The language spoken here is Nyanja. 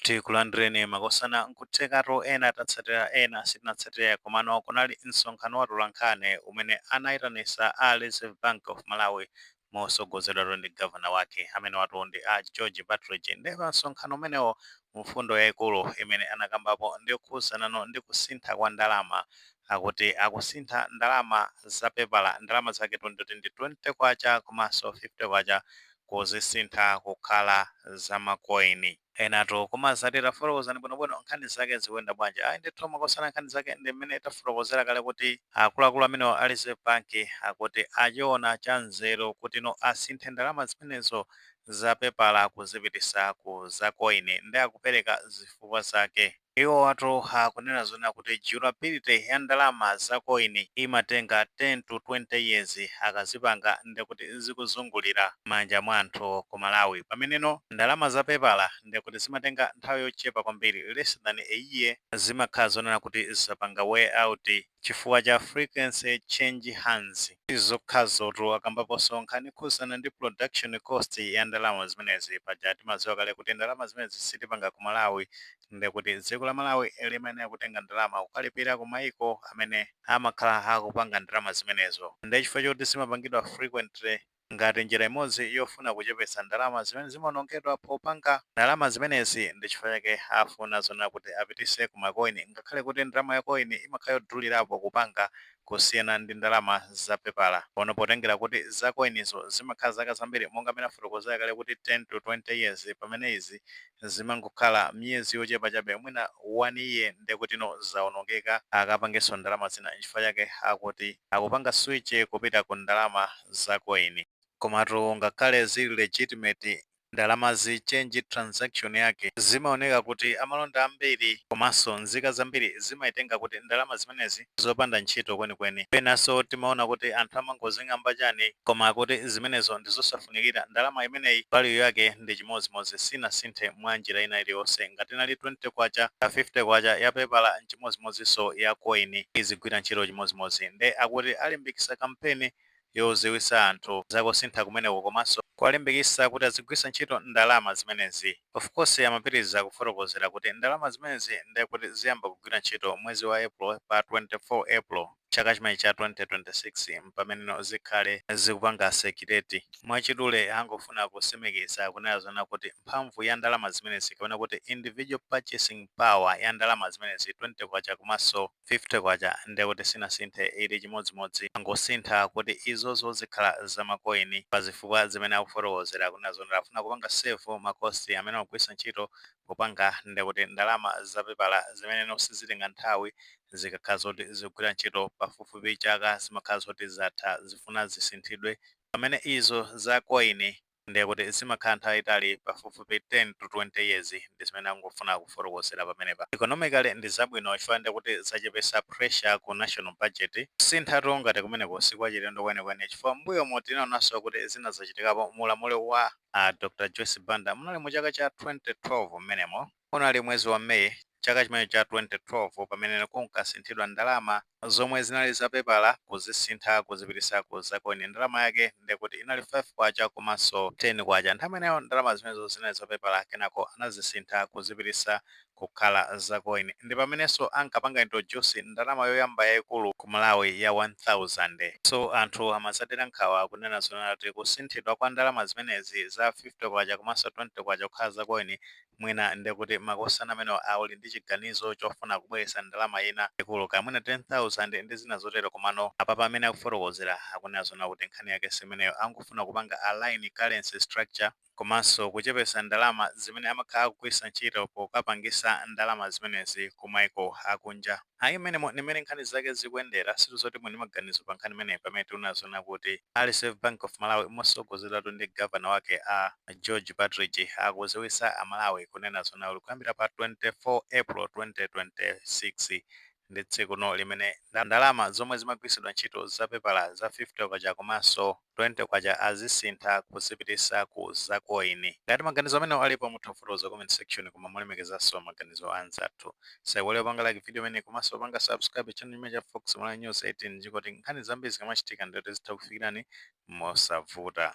Tikulandireni makosana nkuthekatu ena tatsatira ena sitinatsatire komano kunali msonkhano wa atolankhani umene anaitanisa a Reserve Bank of Malawi motsogozedwatu ndi Governor wake amenewatu ndi a George Partridge nde pa msonkhano umenewo mfundo yaikulu imene anakambapo ndiyokhuzanano ndi kusintha kwa ndalama akuti akusintha ndalama za pepala, ndalama zaketu ndikuti ndi K20 komanso K50, kuzisintha kukhala za ma coin. Enatu kumazati tafotokozani bwinobwino nkhani zake zikuyenda bwanji. Ayi ndithu makosana nkhani zake ndi mmene tafotokozera kale kuti akuluakulu amenewo a Reserve Bank akuti achiona cha nzeru kutino asinthe ndalama zimenezo za pepala kuzipititsa ku za coin nde akupereka zifukwa zake. Iwowatu akunena zonena kuti durability ya ndalama za coin imatenga 10 to 20 years akazipanga ndekuti zikuzungulira m'manja mwa anthu ku Malawi pameneno ndalama za pepala ndekuti zimatenga nthawi yochepa kwambiri less than a year zimakhala zonena kuti zapanga wear out. chifukwa cha frequency change hands. Sizokhazotu, akambaponso nkhani yokhudzana ndi production cost ya ndalama zimenezi, paja timadziwa kale kuti ndalama zimenezi sitipanga ku Malawi, nde kuti dziko la Malawi limayenera kutenga ndalama kukalipira ku maiko amene amakhala akupanga ndalama zimenezo, nde chifukwa choti zimapangidwa frequently, ngati njira imodzi yofuna kuchepetsa ndalama zimene zimaonongedwa popanga ndalama zimenezi ndi chifukwa chake afuna zonena kuti apititse ku ma coin ngakhale kuti ndalama ya coin imakhala yodulirapo kupanga kusiyana ndi ndalama za pepala pono potengera kuti za coinzo zimakhala zaka zambiri monga mene afotokozera kale kuti 10 to 20 years pamene izi zimangokhala miyezi yochepa chabe mwina 1 year ndekutino zaonongeka akapangenso ndalama zina nchifukwa chake akuti akupanga switch kupita ku ndalama za coin komatu ngakhale zili legitimate ndalamazi change transaction yake zimaoneka kuti amalonda ambiri komanso nzika zambiri zimaitenga kuti ndalama zimenezi zopanda ntchito kwenikweni. Penanso timaona kuti anthu amangozing'amba chani koma akuti zimenezo ndizosafunikira ndalama imeneyi value yake ndi chimodzimodzi sinasinthe mwa njira ina iliyonse ngati inali K20 kaya K50 ya pepala nchimodzimodzinso ya coin izigwira ntchito chimodzimodzi nde akuti alimbikitsa kampeni yodziwitsa anthu za kusintha kumeneko komanso kuwalimbikitsa kuti azigwiritsa ntchito ndalama zimenezi. Of course amapitiliza kufotokozera kuti ndalama zimenezi nde kuti ziyamba kugwira ntchito mwezi wa April pa 24 April chaka chimenechi cha 2026 mpameneno zikhale zikupanga circulate. Mwachidule angofuna kutsimikiza kunena zonena kuti mphamvu ya ndalama zimenezi kapena kuti individual purchasing power ya ndalama zimenezi MK20 komanso. K50 nde kuti sinasinthe ili chimodzimodzi angosintha kuti izozo zikhala za ma coin pa zifukwa zimene akufotokozera kunena zoona afuna kupanga save ma cost amene amagwiritsa ntchito popanga nde kuti ndalama za pepala zimenezo sizitenga nthawi zikakhala zoti zikugwira ntchito pafupifupi chaka zimakhala zoti zatha zifuna zisinthidwe pamene izo za coin Ndiye kuti zimakhala nthawi yaitali pafupifupi 10 to 20 years ndi zimene akufuna kufotokozera pamenepa. Economically ndi zabwino chifukwa ndiye kuti zachepesa pressure ku national budget. Kusinthatu ngati kumeneku si kwachilendo kwenikweni chifukwa m'mbuyomu tinaonanso kuti zina zachitikapo mu ulamuliro wa a Dr Joyce Banda munali mu chaka cha 2012 m'menemo. Unali mwezi wa May chaka chimenecho cha 2012 pamene kunkasinthidwa ndalama zomwe zinali za pepala kuzisintha kuzipitisa ku za coin. Ndalama yake nde kuti inali K5 komanso K10. Nthawi imeneyo ndalama zimenezo zinali za pepala kenako anazisintha kuzipitisa kukhala za coin. Ndi pamenenso ankapanga introduce ndalama yoyamba yaikulu ku Malawi ya 1000. So anthu amazadera nkhawa kunena zoona kuti kusinthidwa kwa ndalama zimenezi za K50 komanso K20 kukhala za coin Mwina nde kuti makosana amenewo ali ndi chiganizo chofuna kubweretsa ndalama ina yaikulu kaya mwina 10,000 ndi zina zotero komano apapa mmene akufotokozera akunena zoona kuti nkhani yake simeneyo angofuna kupanga align currency structure komanso kuchepetsa ndalama zimene amakhala akugwiritsa ntchito pokapangitsa ndalama zimenezi kumaiko akunja. Ayi mmenemo ndi mmene nkhani zake zikuyendera, tikudziwa zoti muli ndi maganizo pa nkhani imeneyi pamene tikunena zoona kuti a Reserve Bank of Malawi mosogozedwatu ndi Governor wake a George Partridge akudziwitsa a Malawi kunena zoona kuti kuyambira pa 24 April 2026 ndi tsikuno limene ndalama zomwe zimagwiritsidwa ntchito za pepala za K50 komanso K20 azisintha kuzipitisa ku za coin. Ngati maganizo amenewo alipo mutha kufotokoza comment section koma molemekezanso maganizo a anzathu. Tisaiwale kupanga like video imeneyi komanso kupanga subscribe channel chimenechi cha Fox Malawi News 18 ndicholinga choti nkhani zambiri zikamachitika ndiye kuti zitha kufikilani mosavuta.